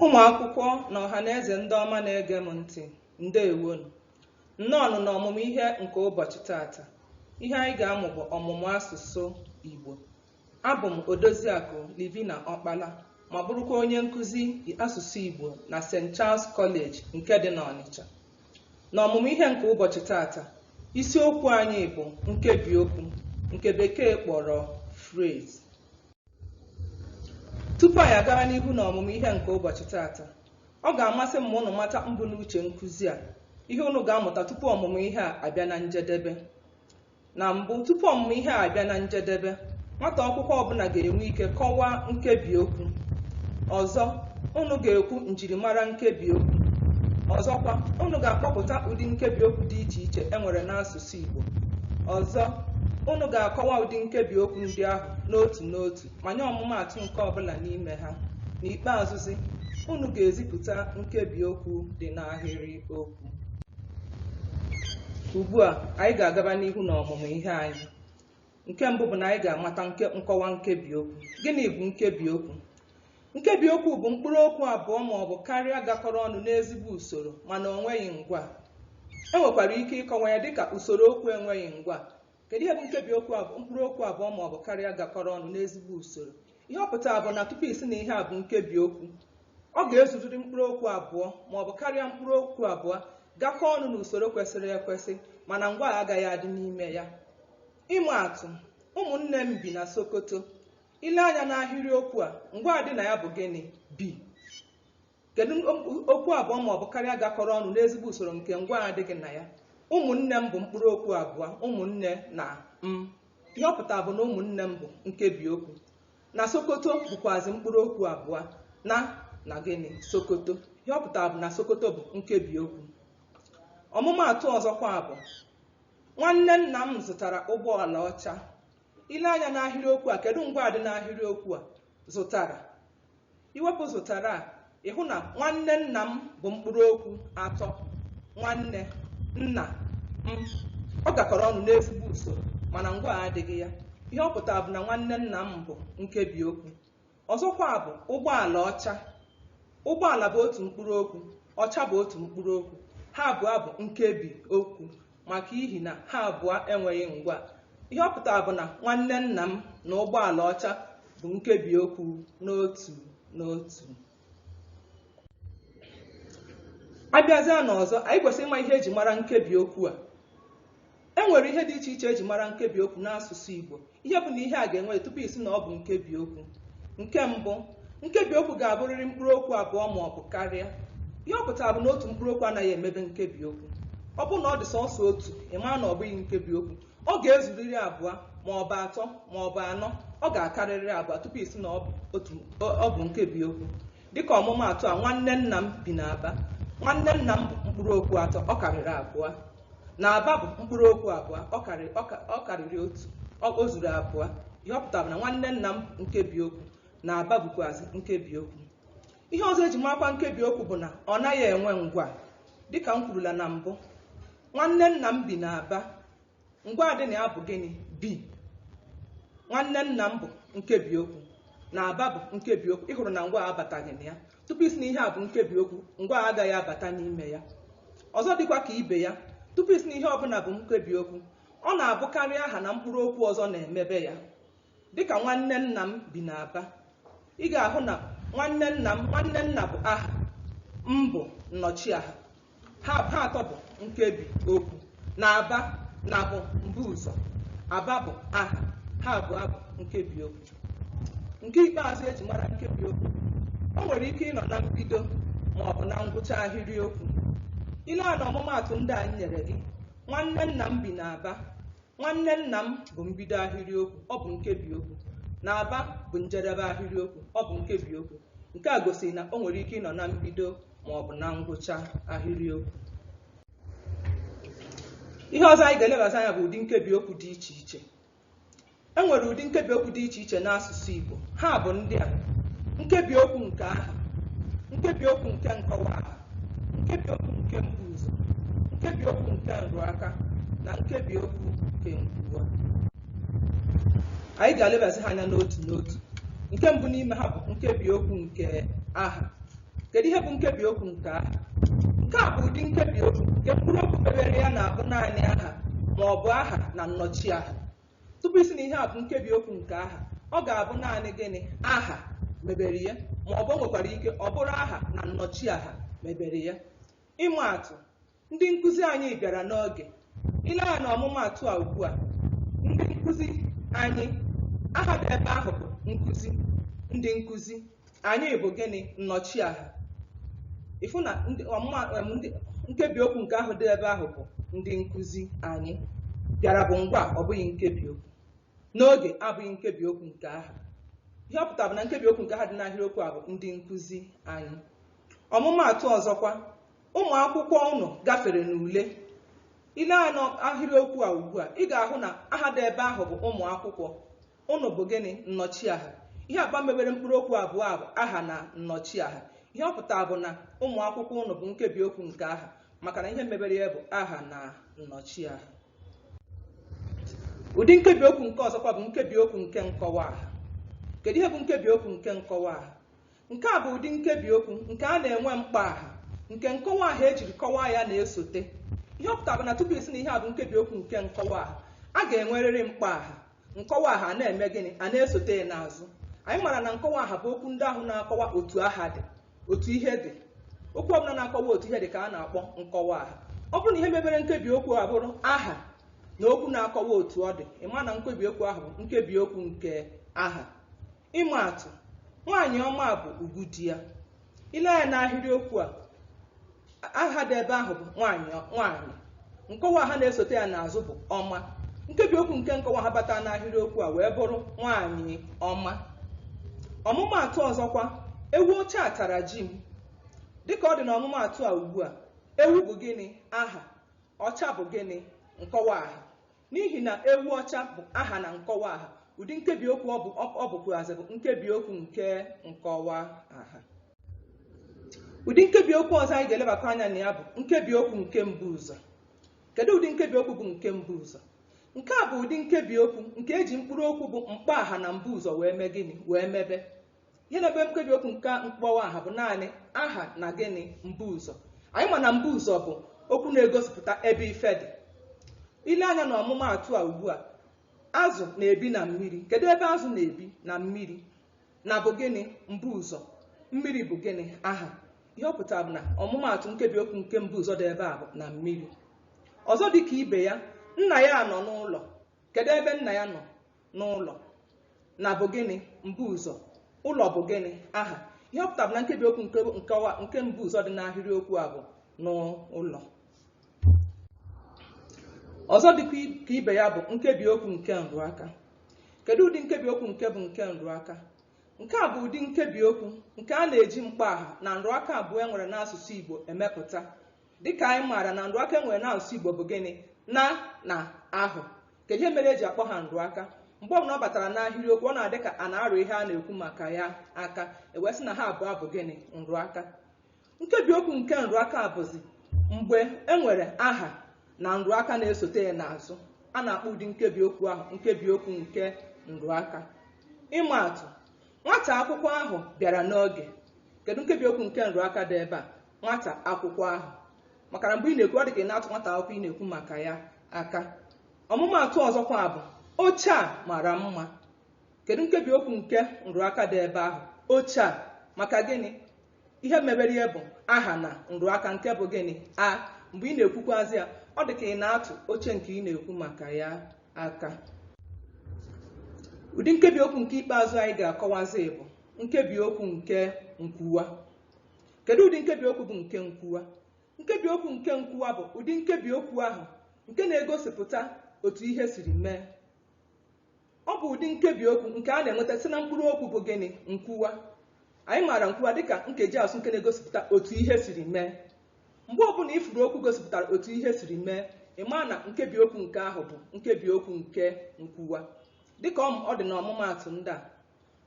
Ụmụ akwụkwọ na ọhaneze ndị ọma na-ege m ntị, ndeewonụ. Nnọọnụ n'ọmụmụ ihe nke ụbọchị taata. Ihe anyị ga-amụ bụ ọmụmụ asụsụ Igbo. Abụ m Odoziakụ Livina Ọkpala ma bụrụkwa onye nkụzi asụsụ Igbo na St. Charles College nke dị n'Ọnịcha. N'ọmụmụ ihe nke ụbọchị taata, isiokwu anyị bụ nkebiokwu nke Bekee kpọrọ phrase. Tupu anyị agara n'ihu n'ọmụmụ ihe nke ụbọchị taata, ọ ga-amasị m ma unu mata mbunuche nkụzi a, ihe unu ga-amụta tupu ọmụmụ ihe a abịa na njedebe. Na mbụ, tupu ọmụmụ ihe a abịa na njedebe, nwata akwụkwọ ọbụla ga-enwe ike kọwaa nkebi okwu. Ọzọ, unu ga-ekwu njirimara nkebi okwu. Ọzọkwa, unu ga-akpọpụta ụdị nkebi okwu dị iche iche e nwere n'asụsụ. n'asụsụ Igbo. Ọzọ, unu ga-akọwa ụdị nkebi okwu ndị ahụ n'otu n'otu ma nye ọmụmaatụ nke ọ bụla n'ime ha. N'ikpeazụzi, unu ga-ezipụta nkebi okwu dị n'ahịrị okwu. Ugbu a, anyị ga-agaba n'ihu n'ọmụmụ ihe anyị. nke mbụ bụ na anyị ga-amata nkọwa nkebi okwu gịnị bụ nkebi okwu nkebi okwu bụ mkpụrụ okwu abụọ ma ọ bụ karịa gakọrọ ọnụ n'ezigbo usoro mana o nweghị ngwaa e nwekwara ike ịkọwa ya dịka usoro okwu enweghị ngwaa kedu ihe bụ nkebi okwu ọ bụ mkpụrụ okwu abụọ ma ọ bụ karịa gakọrọ ọnụ n'ezigbo usoro ihe ọ pụtara bụ na tupu ị sị na ihe a bụ nkebi okwu ọ ga-ezuziri mkpụrụ okwu abụọ ma ọ bụ karịa mkpụrụ okwu abụọ gakọọ ọnụ n'usoro kwesịrị ekwesị mana ngwaa agaghị adị n'ime ya Ịma atụ, Ụmụnne m bi na Sokoto. I lee anya n'ahịrịokwu a, ngwaa dị na ya bụ gịnị? Bi. Kedu m- okwu abụọ ma ọ bụ karịa gakọrọ ọnụ n'ezigbo usoro nke ngwaa adịghị na ya? Ụmụnne m bụ mkpụrụ okwu abụọ, ụmụnne na m. Ihe ọ pụtara bụ na ụmụnne m bụ nkebi okwu. Na Sokoto bụkwazi mkpụrụ okwu abụọ na na gịnị? Sokoto. Ihe ọ pụtara bụ na Sokoto bụ nkebi okwu. Ọmụmaatụ ọzọkwa bụ Nwanne nna m zụtara ụgbọala ọcha. I lee anya n'ahịrịokwu a, kedu ngwaa dị n'ahịrịokwu a? Zụtara. I wepụ zụtara a, ị hụ na nwanne nna m bụ mkpụrụ okwu atọ. Nwanne, nna, m. Ọ gakọrọ ọnụ n'ezigbo usoro mana ngwaa adịghị ya. Ihe ọ pụtara bụ na nwanne nna m bụ nkebiokwu. ọzọkwa bụ ụgbọala ọcha ụgbọala bụ otu mkpụrụ okwu ọcha bụ otu mkpụrụ okwu ha abụọ bụ nkebi okwu maka ihi na ha abụọ enweghị ngwaa ihe ọ pụtara bụ na nwanne nna m na ụgbọala ọcha bụ nkebi okwu n'otu n'otu a bịazịa n'ọzọ anyị kwesịrị ịma ihe e ji mara nkebi okwu a E nwere ihe dị iche iche e ji mara nkebi okwu n'asụsụ Igbo. Ihe bụ na ihe a ga-enwe tupu ị sị na ọ bụ nkebi okwu. Nke mbụ, nkebi okwu ga-abụrịrị mkpụrụ okwu abụọ ma ọ bụ karịa. Ihe ọ pụtara bụ na otu mkpụrụ okwu anaghị emebe nkebi okwu. Ọ bụrụ na ọ dị sọsọ otu, ị mara na ọ bụghị nkebi okwu. Ọ ga-ezurịrị abụọ ma ọ bụ atọ ma ọ bụ anọ. Ọ ga-akarịrị abụọ tupu ị sị na ọ bụ nkebi okwu. Dịka ọmụmaatụ a, nwanne nna m bi n'Aba. Nwanne nna m bụ mkpụrụ okwu atọ, ọ karịrị abụọ. N'Aba bụ mkpụrụ okwu abụọ, ọ karịrị ọ ka- ọ karịrị otu, ọ o zuru abụọ. Ihe ọ pụtara bụ na nwanne nna m bụ nkebi okwu, n'Aba bụkwazị nkebi okwu. Ihe ọzọ e ji marakwa nkebi okwu bụ na ọ naghị enwe ngwaa. Dịka m kwurula na mbụ, nwanne nna m bi n'Aba. ngwaa dị na ya bụ gịnị bi nwanne nna m bụ nkebi okwu n'aba bụ nkebi okwu ị hụrụ na ngwaa abataghị na ya tupu ị sị na ihe a bụ nkebi okwu ngwaa agaghị abata n'ime ya ọzọ dịkwa ka ibe ya tupu ị sị na ihe ọbụla bụ nkebi okwu ọ na-abụkarị aha na mkpụrụ okwu ọzọ na-emebe ya Dịka nwanne nna m bi n'Aba, ị ga-ahụ na nwanne nna m nwanne nna bụ aha, m bụ nnọchiaha. Ha atọ bụ nkebi okwu. N'Aba, na bụ mbuụzọ, Aba bụ aha, ha abụọ bụ nkebi okwu. Nke ikpeazụ e ji mara nkebi okwu, o nwere ike ịnọ na mbido ma ọ bụ na ngwụcha ahịrịokwu. I lee anya na ọmụmaatụ ndị a m nyere gị, nwanne nna m bi n'Aba, Nwanne nna m bụ mbido ahịrịokwu, ọ bụ nkebiokwu. N'Aba bụ njedebe ahịrịokwu, ọ bụ nkebiokwu. Nke a gosiri na o nwere ike ịnọ na mbido ma ọ bụ na ngwụcha ahịrịokwu. Ihe ọzọ anyị ga-elebazi anya bụ ụdị nkebiokwu dị iche iche. E nwere ụdị nkebiokwu dị iche iche n'asụsụ Igbo. Ha bụ ndị a: nkebiokwu nke aha, nkebiokwu nke nkọwa aha, nkebiokwu nke mbuụzọ nkebiokwu nke nrụaka na nkebiokwu nke nkwuwa anyị ga-elebasị ha anya n'otu n'otu nke mbụ n'ime ha bụ nkebiokwu nke aha kedu ihe bụ nkebiokwu nke aha nke a bụ ụdị nkebiokwu nke mkpụrụ okwu mebere ya na-abụ naanị aha ma ọ bụ aha na nnọchi aha tupu ị sị na ihe a bụ nkebi okwu nke aha ọ ga-abụ naanị gịnị aha mebere ya ma ọ bụ nwekwara ike ọ bụrụ aha na nnọchi aha mebere ya ịma atụ ndị nkụzi anyị bịara n'oge i lee anya na ọmụmaatụ a ugbu a ndị nkụzi anyị aha dị ebe ahụ bụ nkụzi ndị nkụzi anyị bụ gịnị nnọchiaha ị fụ na ndị ọmụma em, ndị nkebi okwu nke aha dị ebe ahụ bụ ndị nkụzi anyị bịara bụ ngwaa ọ bụghị nkebi okwu n'oge abụghị nkebi okwu nke aha ihe ọ pụtara bụ na nkebi okwu nke aha dị n'ahịrịokwu a bụ ndị nkụzi anyị ọmụmaatụ ọzọkwa ụmụ akwụkwọ ụnụ gafere n'ule i lee anya n'ahịrịokwu a ugbu a ị ga-ahụ na aha dị ebe ahụ bụ ụmụ akwụkwọ ụnụ bụ gịnị nnọchiaha ihe abụọ mebere mkpụrụ okwu abụọ a bụ aha na nnọchiaha ihe ọ pụtara bụ na ụmụ akwụkwọ ụnụ bụ nkebi okwu nke aha maka na ihe mebere ya bụ aha na nnọchiaha ụdị nkebi okwu nke ọzọkwa bụ nkebi okwu nke nkọwa aha kedu ihe bụ nkebi okwu nke nkọwa aha Nke a bụ ụdị nkebi okwu nke a na-enwe mkpọaha nke nkọwa aha e jiri kọwaa ya na-esote. Ihe ọ pụtara bụ na tupu ị sị na ihe a bụ nkebi okwu nke nkọwa aha, a ga-enwerịrị mkpọaha. Nkọwa aha a na-eme gịnị? A na-esote ya n'azụ. Anyị mara na nkọwa aha bụ okwu ndị ahụ na-akọwa otu aha dị, otu ihe dị. Okwu ọbụla na-akọwa otu ihe dị ka a na-akpọ nkọwa aha. Ọ bụrụ na ihe mebere nkebi okwu a bụrụ aha na okwu na-akọwa otu ọ dị, ị ma na nkebi okwu ahụ bụ nkebi okwu nke aha. Ịma atụ, nwaanyị ọma bụ ugwu di ya. I lee anya n'ahịrịokwu a, aha dị ebe ahụ bụ nwaanyị nwaanyị. Nkọwa aha na-esote ya n'azụ bụ ọma. Nkebi okwu nke nkọwa aha batara n'ahịrịokwu a wee bụrụ nwaanyị ọma. Ọmụmaatụ ọzọkwa, ewu ọcha a tara ji m. Dịka ọ dị n'ọmụmaatụ a ugbu a, ewu bụ gịnị? Aha. Ọcha bụ gịnị? Nkọwa aha. N'ihi na ewu ọcha bụ aha na nkọwa aha, ụdị nkebiokwu ọ bụ ọ bụkwuazị bụ nkebiokwu nke nkọwa aha. Ụdị nkebiokwu ọzọ anyị ga-elebakwa anya na ya bụ nkebiokwu nke mbuụzọ. Kedụ ụdị nkebiokwu bụ nke mbuụzọ? Nke a bụ ụdị nkebiokwu nke e ji mkpụrụokwu bụ mkpọaha na mbuụzọ wee mee gịnị? Wee mebe. ihe na-emebe nkebi okwu nke mkpọaha bụ naanị aha na gịnị mbuụzọ anyị ma na mbuụzọ bụ okwu na-egosipụta ebe ife dị i lee anya na ọmụmaatụ a ugbu a azụ na-ebi na mmiri kedu ebe azụ na-ebi na mmiri na bụ gịnị mbuụzọ mmiri bụ gịnị aha ihe ọ pụtara bụ na ọmụmaatụ nkebi okwu nke mbuụzọ dị ebe a bụ na mmiri ọzọ dị ka ibe ya nna ya nọ n'ụlọ kedu ebe nna ya nọ n'ụlọ na bụ gịnị mbuụzọ ụlọ bụ gịnị aha ihe ọ pụtara bụ na nkebi okwu nke nkewa nke mbuụzọ dị n'ahịrị okwu a bụ n'ụlọ ọzọ dịkwa i- ka ibe ya bụ nkebi okwu nke nrụaka kedu ụdị nkebi okwu nke bụ nke nrụaka nke a bụ ụdị nkebi okwu nke a na-eji mkpọaha na nrụaka abụọ e nwere n'asụsụ igbo emepụta dịka anyị maara na nrụaka e nwere n'asụsụ igbo bụ gịnị a na ahụ kedu ihe mere eji akpọ ha nrụaka mgbe ọbụla ọ batara n'ahịrịokwu ọ na-adị ka a na-arụ ihe a na-ekwu maka ya aka ewee sị na ha abụọ bụ gịnị nrụaka nkebi okwu nke nrụaka bụzi mgbe e nwere aha na nrụaka na-esote ya n'azụ a na-akpọ ụdị nkebi okwu ahụ nkebi okwu nke nrụaka ịma atụ nwata akwụkwọ ahụ bịara n'oge kedu nkebi okwu nke nrụaka dị ebe a nwata akwụkwọ ahụ maka na mgbe ị na-ekwu ọ dị ka ị na-atụ nwata akwụkwọ ị na-ekwu maka ya aka ọmụmaatụ ọzọkwa bụ oche a mara mma kedu nkebi okwu nke nrụaka dị ebe ahụ oche a maka gịnị ihe mebere ya bụ aha na nrụaka nke bụ gịnị a mgbe ị na-ekwukwazi ya ọ dị ka ị na-atụ oche nke ị na-ekwu maka ya aka ụdị nkebi okwu nke ikpeazụ anyị ga-akọwazi bụ nkebi okwu nke nkwuwa kedu ụdị nkebi okwu bụ nke nkwuwa nkebi okwu nke nkwuwa bụ ụdị nkebi okwu ahụ nke na-egosipụta otu ihe siri mee ọ bụ ụdị nkebi okwu nke a na-enweta site na mkpụrụ okwu bụ gịnị nkwuwa anyị maara nkwuwa dịka nkeji asụsụ nke na-egosipụta otu ihe siri mee mgbe ọbụla ị fụrụ okwu gosipụtara otu ihe siri mee ị maa na nkebi okwu nke ahụ bụ nkebi okwu nke nkwuwa dịka ọ dị n'ọmụmaatụ ndị a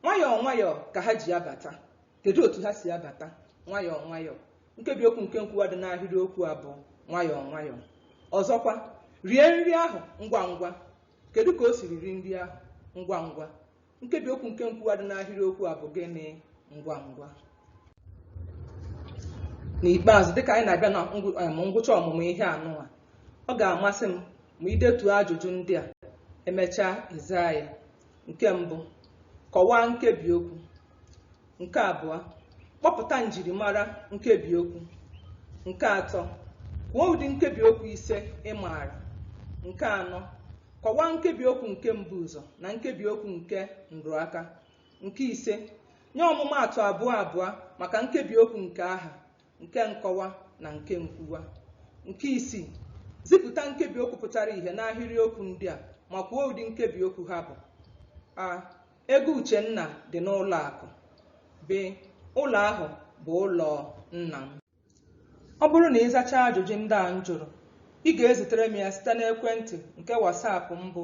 nwayọọ nwayọọ ka ha ji abata kedu otu ha si abata nwayọọ nwayọọ nkebi okwu nke nkwuwa dị n'ahịrị okwu a bụ nwayọọ nwayọọ ọzọkwa rie nri ahụ ngwa ngwa kedu ka o siri rie nri ahụ ngwa ngwa nkebi okwu nke nkwuwa dị n'ahịrị okwu a bụ gịnị ngwa ngwa n'ikpeazụ dịka anyị na-abịa na ngwụ- em, ngwụcha ọmụmụ ihe anụwa ọ ga-amasị m ma i detuo ajụjụ ndị a emechaa ị zaa ya nke mbụ kọwaa nkebi okwu nke abụọ kpọpụta njirimara nkebi okwu nke atọ kwuo ụdị nkebi okwu ise ị maara nke anọ kọwaa nkebi okwu nke mbuụzọ na nkebi okwu nke nrụaka nke ise nye ọmụmaatụ abụọ abụọ maka nkebi okwu nke aha nke nkọwa na nke nkwuwa nke isii zipụta nkebi okwu pụtara ihe n'ahịrịokwu ndị a ma kwuo ụdị nkebi okwu ha bụ a ego uchenna dị n'ụlọ akụ b ụlọ ahụ bụ ụlọ nna m ọ bụrụ na ị zachaa ajụjụ ndị a m jụrụ ị ga-ezitere m ya site n'ekwentị nke whatsapp m bụ